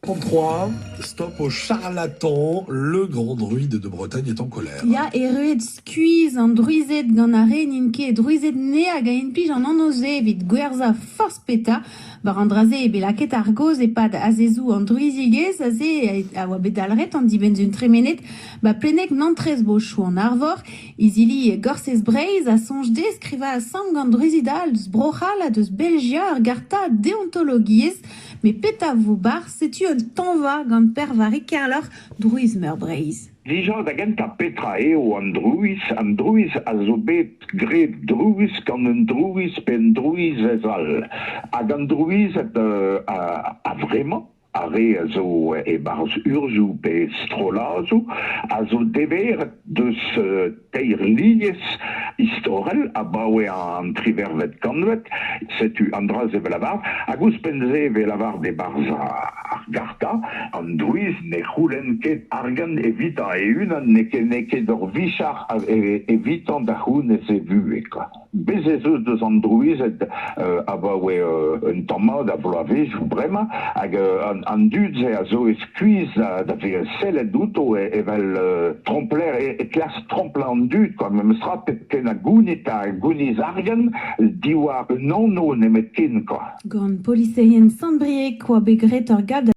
33, stop au charlatan, le grand druide de Bretagne est en colère. Ya, erruet skuizh an druized gant ar re n'int ket druized ne hag a implij an anv-se evit gwerzhañ forzh petra. War an dra-se eo bet lakaet ar gaoz e-pad azezoù an druizigezh aze a oa bet dalc'het an dibenn-sun tremenet ba pleneg Nantrez-Bochou-an-Arvor Izili Gorsez Breizh a soñj dezhe skrivañ asambl gant druzid all eus Bro-C'hall ha deus Belgia ar garta deontologiezh met petra vo barzh setu un tañva gant Pervarig Kerloc'h Drouiz-Meur Breizh. Dija da gentañ petra eo an drouiz? An drouiz a zo bet graet drouiz gant un drouiz pe un drouizez all hag an drouized a-vremañ ar re a zo e-barzh urzhioù pe strolladoù a zo deveret deus teir lies istorel abaoe an tri vervet kantved. Setu an dra-se evel lavar. Hag ouzhpenn-se evel lavar e-barzh ar garta, an drouiz ne c'houlenn ket argant evitañ e-unan, n'eo ket ur vicher evitañ da c'hounez e vuhez. Bez' ez eus deus an drouized abaoe un tamm mat a vloavezhioù bremañ hag an dud-se a zo e skuizh da vezañ sellet outo evel trompler e klask tromplañ an dud kwa memes tra pep ken a gounit ha gouniz argent diwar un anv nemetken kwa. Gant poliseien Sant-Brieg oa bet graet ur galv